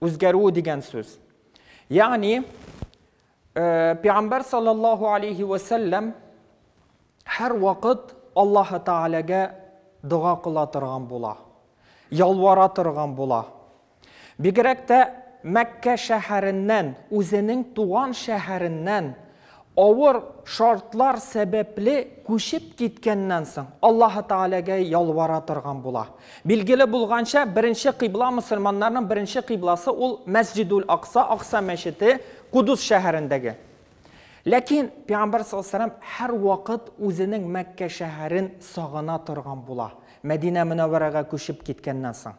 Үзгәрү дигән сүз. Ягъни, э, Пәйгамбәр саллаллаһу алейхи ва саллям һәр вакыт Аллаһ Тәгаләгә дога кыла торган була. Ялвара торган була. Бигрәк тә Мәккә шәһәреннән, үзенең туган шәһәреннән Авыр шартлар сәбәпле күчеп киткәннән соң, Аллаһы Тәгаләгә ялвара торган була. Билгеле булганча, беренче кыйбла, мөселманнарның беренче кыйбласы ул Мәсҗидул-Акса, Акса мәчете, Кудус шәһәрендәге. Ләкин Пәйгамбәр саллаллаһу галәйһи ва сәлләм һәрвакыт үзенең Мәккә шәһәрен сагына торган була, Мәдинә Мөнәввәрәгә күчеп киткәннән соң.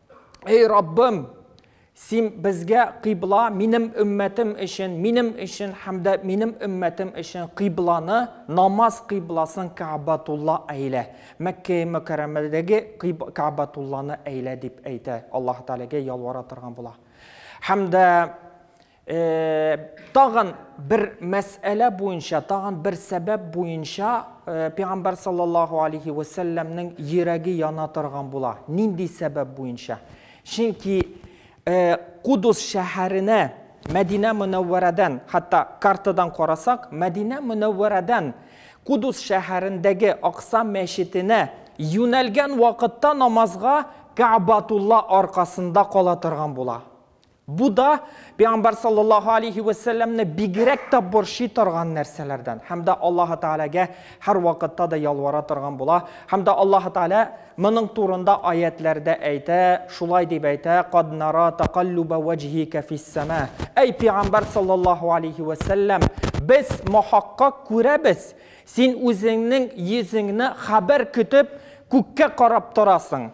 Эй Раббым, син безгә кыйбла, минем өммәтем өчен, минем өчен һәм дә минем өммәтем өчен кыйбланы, намаз кыйбласын Кәбатулла әйлә. Мәккә мөкәррәмәдәге Кәбатулланы әйлә дип әйтә. Аллаһ Тәгаләгә ялвара торган була. Һәм дә Тагын бер мәсьәлә буенча, тагын бер сәбәп буенча пәйгамбәр саллаллаһу алейхи ва сәлләмнең йөрәге яна торган була. Нинди сәбәп буенча? Чөнки Кудус шәһәренә Мәдинә Мөнәввәрәдән, хәтта картадан карасак, Мәдинә Мөнәввәрәдән Кудус шәһәрендәге Акса мәчетенә юнәлгән вакытта намазга Кәбатулла аркасында кала торган була. Бу да пәйгамбәр саллаллаһу алейһи вә сәлләмне бигрәк тә борчый торган нәрсәләрдән. Һәм дә Аллаһы Тәгаләгә һәрвакытта да ялвара торган була. Һәм дә Аллаһы Тәгалә моның турында аятьләрдә әйтә, шулай дип әйтә, Кад нара такаллуба вәҗһика фис-сама. Әй пәйгамбәр саллаллаһу алейһи вә сәлләм, без мохаккак күрәбез, син үзеңнең йөзеңне хәбәр көтеп күккә карап торасың.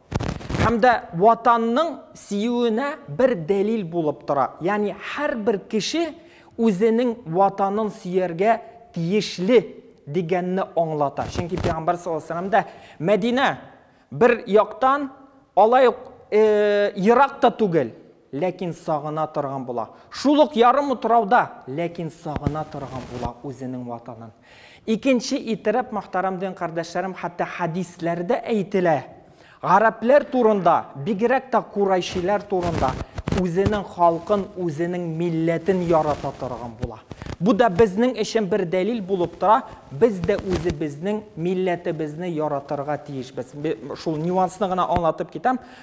Һәм дә Ватанның сөюенә бер дәлил булып тора. Ягъни һәрбер кеше үзенең Ватанын сөяргә тиешле дигәнне аңлата. Чөнки Пәйгамбәр саллаллаһу алейһи ва сәлләм дә Мәдинә бер яктан алай ук ерак та түгел, Ләкин сагына торган була. Шул ук ярым утрауда, ләкин сагына торган була үзенең ватанын. Икенче итырып, мохтарам дин кардәшләрем, хәтта хәдисләрдә әйтелә, гарәпләр турында, бигрәк тә курайшиләр турында, үзенең халкын, үзенең милләтен ярата торган була. Бу да безнең өчен бер дәлил булып тора, без дә үзебезнең милләтебезне яратырга тиешбез. Шул нюансны гына аңлатып китәм,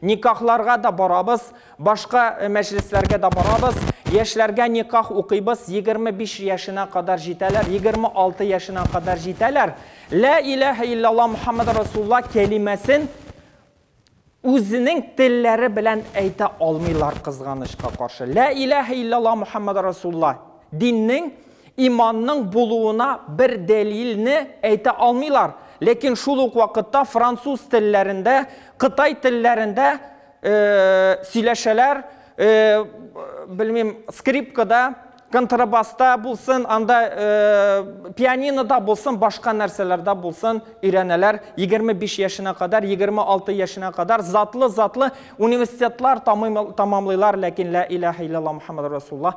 Никахларга да барабыз, башка мәҗлесләргә дә барабыз. Яшьләргә никах укыйбыз, егерме биш яшенә кадәр җитәләр, егерме алты яшенә кадәр җитәләр. Лә иләһә иллялла Мөхәммәд Расулла кәлимәсен үзенең телләре белән әйтә алмыйлар, кызганычка каршы. Лә иләһә иллялла Мөхәммәд Расулла диннең иманның булуына бер дәлилне әйтә алмыйлар. Ләкин шул ук вакытта француз телләрендә, кытай телләрендә сөйләшәләр, белмим, скрипкада, контрабаста булсын, анда пианинода булсын, башка нәрсәләрдә булсын өйрәнәләр. 25 яшенә кадәр, 26 яшенә кадәр затлы-затлы университетлар тамамлыйлар, ләкин лә иләһә иллялла Мухаммаду Расулуллаһ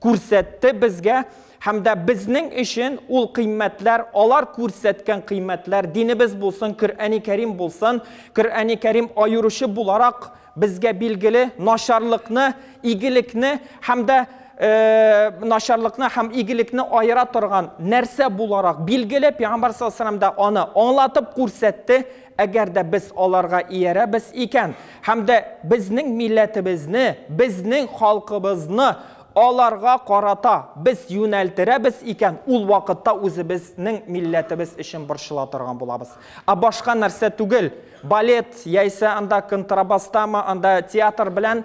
күрсәтте безгә һәм дә безнең өчен ул кыйммәтләр, алар күрсәткән кыйммәтләр, динебез булсын, Коръәни Кәрим булсын, Коръәни Кәрим аеручы буларак безгә билгеле начарлыкны, игелекне һәм дә начарлыкны һәм игелекне аера торган нәрсә буларак билгеле, пәйгамбәр саллаллаһу алейһи ва сәлләм дә аны аңлатып күрсәтте, Әгәр дә без аларга иярәбез икән һәм дә безнең милләтебезне, безнең халкыбызны аларга карата без юнәлтерәбез икән, ул вакытта үзебезнең милләтебез өчен борчыла торган булабыз. Ә башка нәрсә түгел, балет яисә анда контрабастамы, анда театр белән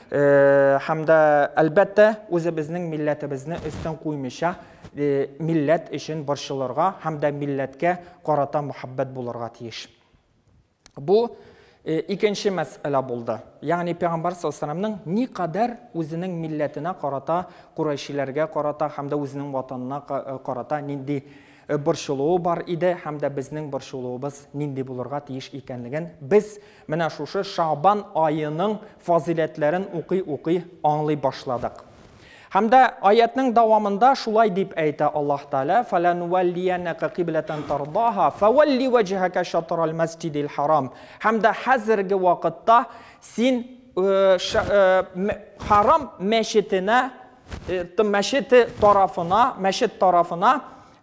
Һәм дә, әлбәттә, үзебезнең милләтебезне өстен куймыйча, милләт өчен борчылырга һәм дә милләткә карата мөхәббәт булырга тиеш. Бу икенче мәсьәлә булды. Ягъни пәйгамбәр саллаллаһу никадәр үзенең милләтенә карата, курайшиләргә карата һәм дә үзенең ватанына карата нинди борчылуы бар иде һәм дә безнең борчылуыбыз нинди булырга тиеш икәнлеген без Менә шушы Шәгъбан аеның фазыйләтләрен укый-укый аңлый башладык. Һәм дә аятьнең дәвамында шулай дип әйтә Аллаһ Тәгалә, Фәләнүәллияннәка кыйбләтән тардәһа, фәвәлли вәҗһәкә шатрал мәсҗидил харам. Һәм дә хәзерге вакытта син Харам мәчетенә, мәчете тарафына, мәчет тарафына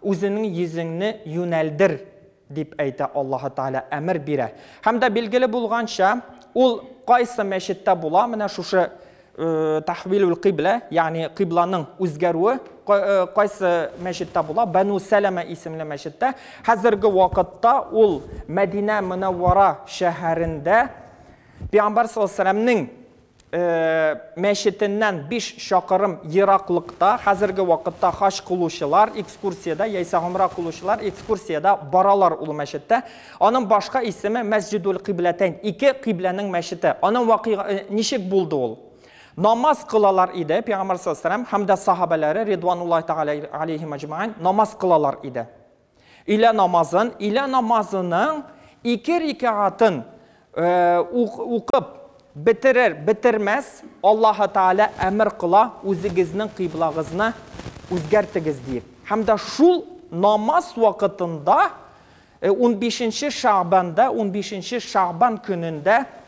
үзеңнең йөзеңне юнәлдер. Дип әйтә Аллаһы Тәгалә әмер бирә. Һәм дә билгеле булганча, ул кайсы мәчеттә була, менә шушы тәхвилүл кыйблә, ягъни кыйбланың үзгәрүе кайсы мәчеттә була, Бәну Сәләмә исемле мәчеттә. Хәзерге вакытта ул Мәдинә Мөнәввара шәһәрендә Пәйгамбәр саллаллаһу алейһи ва сәлләмнең мәчетеннән биш чакырым ераклыкта хәзерге вакытта хаҗ кылучылар экскурсиядә яисә гомрә кылучылар экскурсиядә баралар ул мәчеттә. Аның башка исеме Мәсҗидул-Кыйбләтәйн, ике кыйбләнең мәчете. Аның вакыйга ничек булды ул? Намаз кылалар иде Пәйгамбәр саллаллаһу галәйһи ва сәлләм һәм дә сахабәләре, ридвануллаһи тәгалә галәйһим әҗмәгыйн, намаз кылалар иде. Өйлә намазын, өйлә намазының ике рикәгатын укып бетерер, бетермәс, Аллаһы Тәгалә әмер кыла, үзегезнең кыйблагызны үзгәртегез диеп. Һәм дә шул намаз вакытында унбишенче Шәгъбанда, унбишенче Шәгъбан көнендә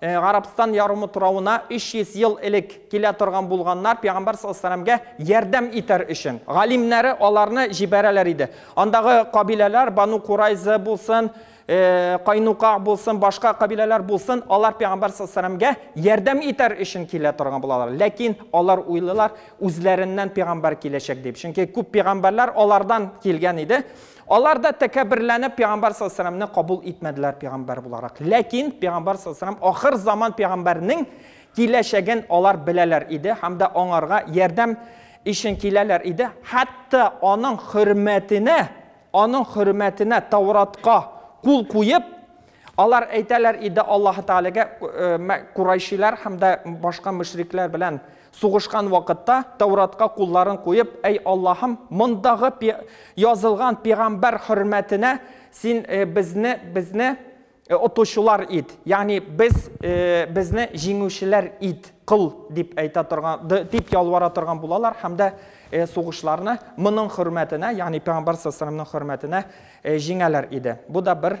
Гарәбстан ярымы торавына 300 ел элек килә торган булганнар, пәйгамбәр саллаллаһу алейһи ва сәлләмгә ярдәм итәр өчен. Галимнәре аларны җибәрәләр иде. Андагы кабиләләр, Бану Курайза булсын, Кайнука булсын, башка кабиләләр булсын, алар пәйгамбәр саллаллаһу алейһи ва сәлләмгә ярдәм итәр өчен килә торган булалар. Ләкин алар уйлыйлар, үзләреннән пәйгамбәр киләчәк дип. Чөнки күп пәйгамбәрләр алардан килгән иде. Алар да тәкәбберләнеп пәйгамбәр саллаллаһу галәйһи ва сәлләмне кабул итмәделәр пәйгамбәр буларак. Ләкин пәйгамбәр саллаллаһу галәйһи ва сәлләм ахыр заман пәйгамбәренең киләчәген алар беләләр иде һәм дә аңарга ярдәм өчен киләләр иде, хәтта аның хөрмәтенә, аның хөрмәтенә Тауратка кул куеп, Алар әйтәләр иде Аллаһы Тәгаләгә, Курайшиләр һәм дә башка мөшрикләр белән сугышкан вакытта, Тәуратка кулларын куеп, Әй Аллаһым, мондагы язылган пигамбәр хөрмәтенә син безне, безне отучылар ит, ягъни без, безне җиңүчеләр ит, кыл, дип әйтә торган, дип ялвара торган булалар һәм дә сугышларны моның хөрмәтенә, ягъни пигамбәр саллаллаһу алейһи ва саллямның хөрмәтенә җиңәләр иде. Бу да бер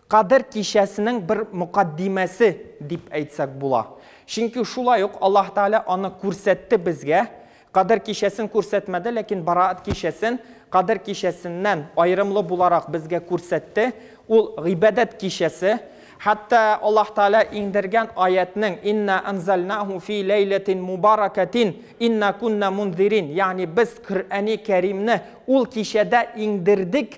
Кадер кичәсенең бер мөкаддимәсе дип әйтсәк була. Чөнки шулай ук Аллаһ Тәгалә аны күрсәтте безгә. Кадер кичәсен күрсәтмәде, ләкин Бараат кичәсен Кадер кичәсеннән аерымлы буларак безгә күрсәтте. Ул, гыйбадәт кичәсе. Хәтта Аллаһ Тәгалә иңдергән аятьнең, Инна әнзәлнаһу фи ләйләтин мубаракәтин, инна кунна мунзирин, ягъни без Коръәни Кәримне ул кичәдә иңдердек,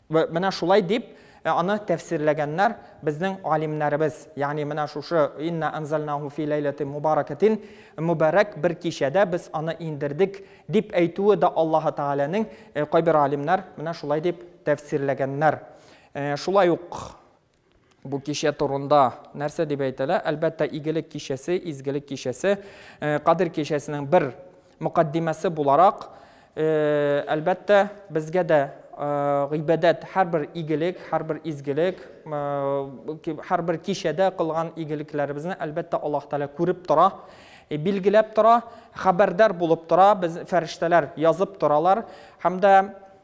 Вә менә шулай дип аны тәфсирләгәннәр безнең галимнәребез. Ягъни менә шушы инна анзальнаһу фи ләйләтин мубаракатин, мөбарәк бер кичәдә без аны иңдердек, дип әйтүе дә Аллаһы Тәгаләнең, кайбер галимнәр менә шулай дип тәфсирләгәннәр. Шулай ук Бу кичә турында нәрсә дип әйтәлә? Әлбәттә, игелек кичәсе, изгелек кичәсе, э, Кадир кичәсенең бер мөкаддимәсе буларак, э, әлбәттә, безгә дә э, гыйбадәт һәрбер игелек, һәрбер изгелек, һәрбер кичәдә кылган игелекләребезне әлбәттә Аллаһ Тәгалә күреп тора, билгеләп тора, хәбәрдар булып тора, без фәрештәләр язып торалар һәм дә